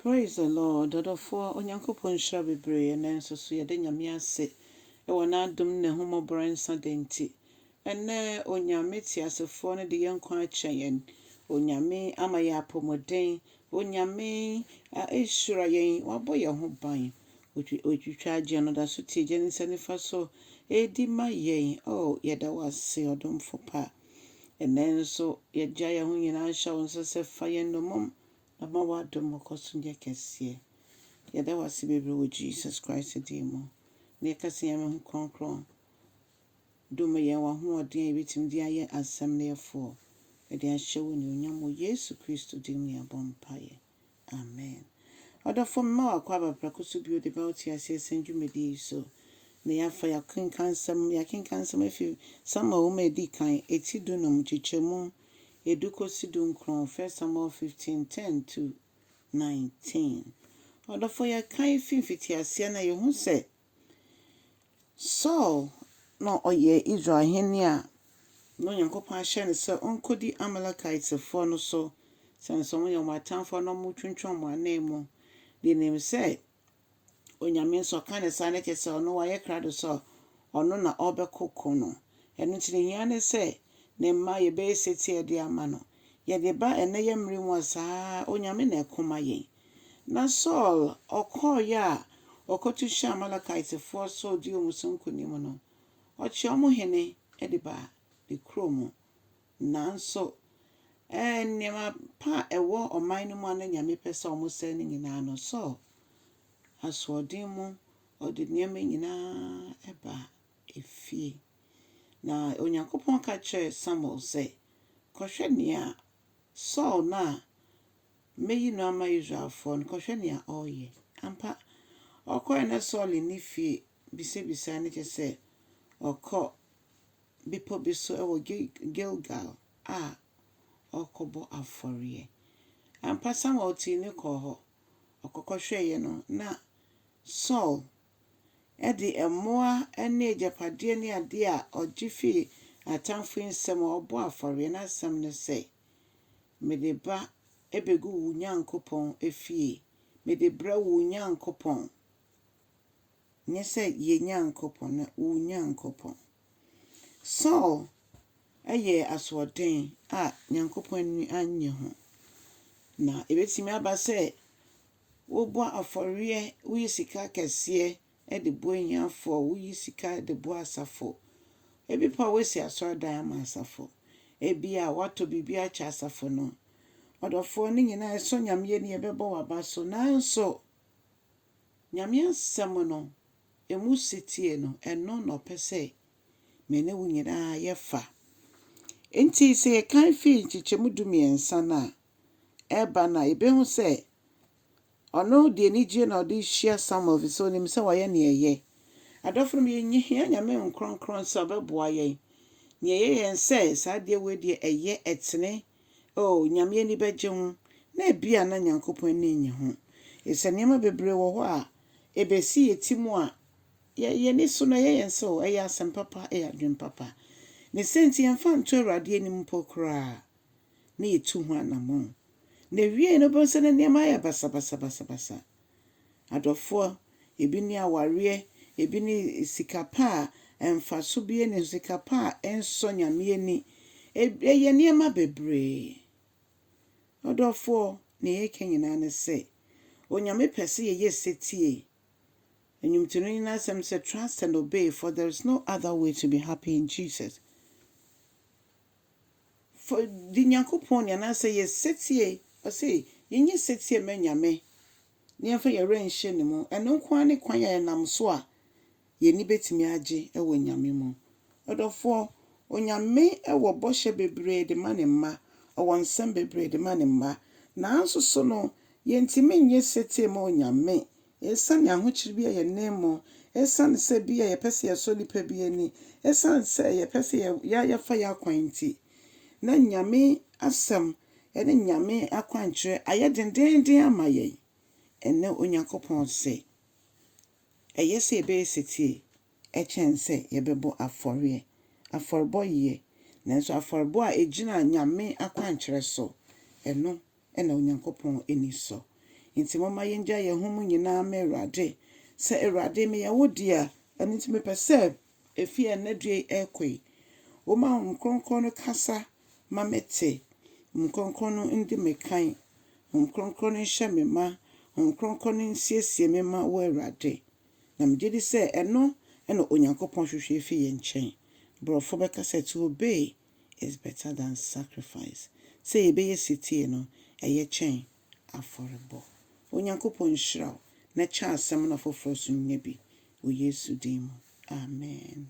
Praise the Lord ɔdɔfoɔ Onyankopɔn nhyira bebree ɛnɛ nso so yɛda Nyame ase wɔ n'adom ne n'ahummɔborɔ nsa da nti ɛnɛ Onyame teasefoɔ no de yɛn nkwa akyɛ yɛn Onyame ama yɛn apɔmuden Onyame ahyira yɛn wabɔ yɛn ho ban otwitwa agyeɛ no da so tie gya ne nsa nifa so ɛdi ma yɛn oh yɛda wo ase ɔdomfo pa ɛnɛ nso yɛgya yɛn ho nyinaa hyɛ wo nsa sɛ fa yɛn nomom Na ma w'adom nkɔ so nyɛ kɛseɛ. Yɛda wo ase bebree wɔ Jesus Christ din mu. Na yɛka sɛ Nyame ho krɔnkrɔn dome yɛn, w'ahoɔden a yɛbɛtumi de ayɛ asɛm no yɛfoɔ de ahyɛ wo anuonyam wɔ Yesu Kristo din mu yɛabɔ mpaeɛ. Amen. Ɔdɔfoɔ mema wo akɔ aba prɛko so bio de ba wo te aseɛ sɛn dwumadie yi so. Na yɛafa yɛakenkansɛm yɛakenkansɛm afi Samuel nwoma a ɛdi kan, ɛti dunum, nkyekyɛmu. edu kosi dunkron, 1 Samuel fifteen, ten to nineteen. Ɔdɔfo yɛkae fi mfitiaseɛ na yɛhu sɛ Saul na ɔyɛ Israel hene a na Onyankopɔn ahyɛ no sɛ ɔnkɔdi Amalekitefoɔ no so sɛne sɛ wɔyɛ wɔn atamfoɔ na wɔtwentwɛn wɔn ananmu de nim sɛ Onyame nso ɔka ne saa ne kyerɛ sɛ ɔno wayɛ krado sɛ ɔno na ɔbɛko ko no. Ɛno nti nehia ne sɛ ne mma yɛbɛyɛ setie de ama no. Yɛde ba ɛnnɛ yɛ mmere mu a saa ara Onyame na ɛko ma yɛn. Na Saul ɔkɔɔeɛ a ɔkɔto hyɛɛ Amalekitefoɔ so ɔdii wɔn so nkonim no, ɔkyɛɛ wɔn hene de baa ne kuro mu. Nanso, ɛɛ, nneɛma pa a ɛwɔ ɔman no mu a na Nyame pɛ sɛ wɔsɛe no nyinaa no, Saul asoɔden mu ɔde nneɛma nyinaa baa efie. Na Onyankopɔn ka kyerɛɛ Samuel sɛ, Kɔhwɛ nea Saul no a mɛyi no ama Israelfoɔ no, kɔhwɛ nea ɔreyɛ. Ampa, ɔkɔɛ na Saul nni fie bisabisaa no kyɛ sɛ ɔkɔ bepɔ bi so wɔ Gilgal a ɔrekɔbɔ afɔreɛ. Ampa, Samuel tii no kɔɔ hɔ. Ɔkɔkɔhwɛeɛ no, na Saul de mmoa ne agyapadeɛ ne adeɛ a ɔgye firi atamfo nsam a ɔrebɔ afɔreɛ. N'asɛm ne sɛ, Mede ba bɛgu wo Nyankopɔn fie. Mede brɛ wo Nyankopɔn. Nyɛ sɛ yɛn Nyankopɔn, na wo Nyankopɔn. Saul yɛɛ asoɔden a Nyankopɔn ani annye ho. Na ebetumi aba sɛ wobɔ afɔreɛ, woyi sika kɛseɛ de boa ahiafoɔ, woyi sika de boa asafo. Ebi pa woasi asɔredan ama asafo. Ebi a woatɔ biribi akyɛ asafo no. Ɔdɔfoɔ, ne nyinaa ɛsɔ Nyame ani, ɛbɛbɔ w'aba so. Nanso. Nyame Asɛm no, ɛmu setie no, ɛno na ɔpɛ sɛ me ne wo nyinaa yɛfa. Enti sɛ yɛkan firi nkyekyɛmu dumiɛnsa no a ɛreba no a, yɛbɛhu sɛ ɔno de anigyeɛ na ɔde hyia Samuel ɛfiri sɛ ɔnim sɛ wayɛ nea ɛyɛ. Adɔfo no, yɛhia Nyame nkorɔnkorɔn sɛ ɔbɛboa yɛn. Nea ɛyɛ yɛn sɛ saa adeɛ wei deɛ ɛyɛ, ɛtene, Oh, Nyame ani bɛgye ho, na ebia na Nyankopɔn ani nnye ho. Efisɛ nneɛma bebree wɔ hɔ a ebesi yɛn ti mu a, yɛn ani so no ɛyɛ yɛn sɛ oh, ɛyɛ asɛm papa, ɛyɛ adwene papa. Ne sɛ nti yɛmfa nto Awurade anim mpo koraa, na yɛtu ho anammɔn. Na ewiei no wobɛhu sɛ na nneɛma ayɛ basabasabasabasa. adɔfoɔ, ebi ne awareɛ, ebi ne sika pa a mfaso biara nni ho, sika pa a ɛnsɔ Nyame ani. Ɛyɛ nneɛma bebree. Ɔdɔfoɔ, deɛ yɛreka nyinaa ne sɛ, Onyame pɛ sɛ yɛyɛ setie. Nnwomtonini no asɛm sɛ, Trust and obey, for there is no other way to be happy in Jesus. Fa di Nyankopɔn ni anaasɛ yɛ setie. Ɔse, Yɛnyɛ setie mma Nyame, na yɛmfa yɛn werɛ nhyɛ Ne mu. Ɛno nko ara ne kwan a yɛnam so a yɛn ani bɛtumi agye wɔ Nyame mu. Ɔdɔfoɔ, Onyame wɔ bɔhyɛ bebree de ma Ne mma, Ɔwɔ nsɛm bebree de ma Ne mma, nanso so no, yɛntumi nyɛ setie mma Onyame Esiane ahokyere bi a yɛn nne mmɔ, esiane sɛ ebia yɛpɛ sɛ yɛsɔ nnipa bi ani, esiane sɛ yɛpɛ sɛ yɛfa yɛn akwan nti, na Nyame Asɛm ne Nyame akwankyerɛ ayɛ dendeenden ama yɛn. Ɛnnɛ Onyankopɔn se, ɛyɛ sɛ yɛbɛyɛ setie kyɛn sɛ yɛbɛbɔ afɔreɛ. Afɔrebɔ ye, nanso afɔrebɔ a ɛgyina Nyame akwankyerɛ so, ɛno na Onyankopɔn ani sɔ. Enti momma yɛngya yɛn ho mu nyinaa mma Awurade, sɛ, Awurade, meyɛ wo dea, ɛno nti mepɛ sɛ ɛfiri ɛnnɛ da yi rekɔ yi, woma Honhom Kronkron no kasa ma mete, Honhom Kronkron no ndi me kan, Honhom Kronkron no nhyɛ me ma, Honhom Kronkron no nsiesie me ma wo, Awurade. Na megye di sɛ ɛno na Onyankopɔn hwehwɛ firi yɛn nkyɛn. Borɔfo bɛka sɛ, to obey. is better than sacrifice, sɛ yɛbɛyɛ setie no, ɛyɛ kyɛn afɔrebɔ. Onyankopɔn nhyira wo na kyɛ asɛm no afoforɔ nso nya bi wɔ Yesu din mu, amen.